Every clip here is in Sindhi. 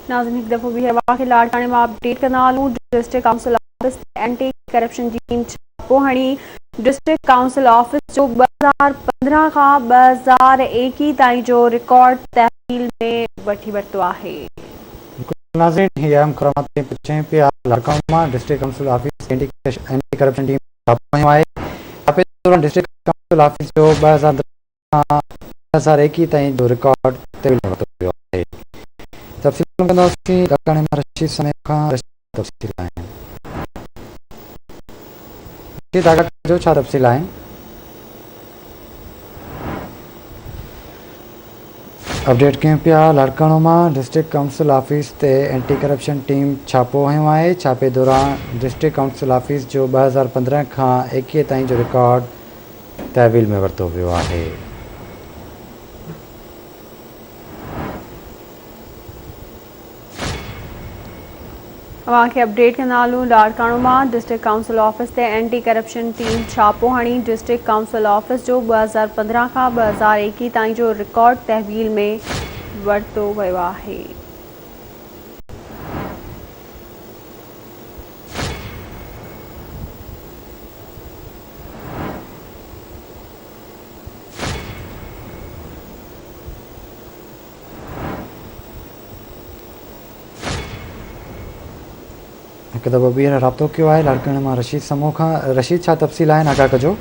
ناظرين هڪ دفعو به هوا کي لاڙڪاڻي مان اپ ڊيٽ ڪندا هلون ڊسٽرڪٽ ڪائونسل آفيس تي اينٽي ڪرپشن ٽيم ڇاپو هڻي ڊسٽرڪٽ ڪائونسل آفيس جو ٻه هزار پندرهن کان ٻه هزار ايڪيهه تائين جو رڪارڊ تحويل ۾ وٺي ورتو آهي. بلڪل ناظرين هي اهم خرامات تائين پهچين پئي آهي لاڙڪاڻو مان ڊسٽرڪٽ ڪائونسل آفيس تي اينٽي ڪرپشن ٽيم ڇاپو هنيو آهي ڇاپي دوران ڊسٽرڪٽ ڪائونسل آفيس جو ٻه هزار کان ڏهه ساريڪي تائين جو رڪارڊ طويل ورتو ويو آهي. تفصيل ۾ ڪنداسين، لاڙڪاڻي مان رشيد سميع کان رشيد کان تفصيل آهن. رشيد آغا کان جو ڇا تفصيل آهن؟ اپڊيٽ ڪيون پيا، لاڙڪاڻو مان ڊسٽرڪٽ ڪائونسل آفيس تي اينٽي ڪرپشن ٽيم ڇاپو هنيو آهي، ڇاپي دوران ڊسٽرڪٽ ڪائونسل آفيس جو ٻه هزار پندرهن کان ايڪيهه تائين جو رڪارڊ تحويل ۾ ورتو ويو آهي. اوهان کي اپڊيٽ ڪندا هلون لاڙڪاڻو مان ڊسٽرڪٽ ڪائونسل آفيس تي اينٽي ڪرپشن ٽيم ڇاپو هڻي ڊسٽرڪٽ ڪائونسل آفيس جو ٻه هزار پندرهن کان ٻه هزار ايڪيهه تائين جو رڪارڊ تحويل ۾ ورتو ويو آهي هڪ دفعو ٻيهر رابطو ڪيو آهي لاڙڪاڻي مان رشيد سمون کان رشيد ڇا تفصيل آهن آگاهه ڪجو.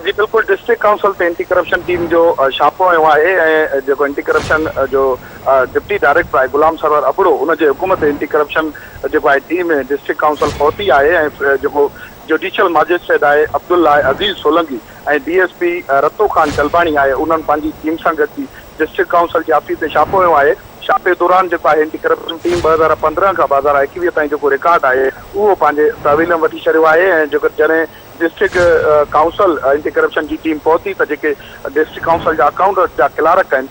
جي بلڪل ڊسٽرڪٽ ڪائونسل تي اينٽي ڪرپشن ٽيم جو ڇاپو هنيو آهي ۽ جيڪو اينٽي ڪرپشن جو ڊپٽي ڊائريڪٽر آهي غلام سرور ابڙو ان جي حڪم تي اينٽي ڪرپشن جيڪو آهي ٽيم ڊسٽرڪٽ ڪائونسل پهتي آهي ۽ جيڪو جوڊيشل ماجسٽريٽ آء عبدالله آء Aziz Solangi ۽ D S P Rato Khan Chalbani آء انهن پنهنجي ٽيم سان گڏجي ڊسٽرڪٽ ڪائونسل جي آفيس تي ڇاپو هنيو آهي ڇاپي دوران جيڪو آء اينٽي ڪرپشن ٽيم ٻه هزار پندرهن کان ٻه هزار ايڪويهه تائين جيڪو رڪارڊ آهي اهو پنهنجي تحويل ۾ وٺي ڇڏيو آهي ۽ جيڪو جڏهن ڊسٽرڪٽ ڪائونسل اينٽي ڪرپشن جي ٽيم پهتي ته جيڪي ڊسٽرڪٽ ڪائونسل جا اڪائونٽنٽ جا ڪلارڪ آهن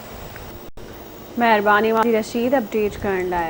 مهرباني واري رسيد اپڊيٽ ڪرڻ لاء.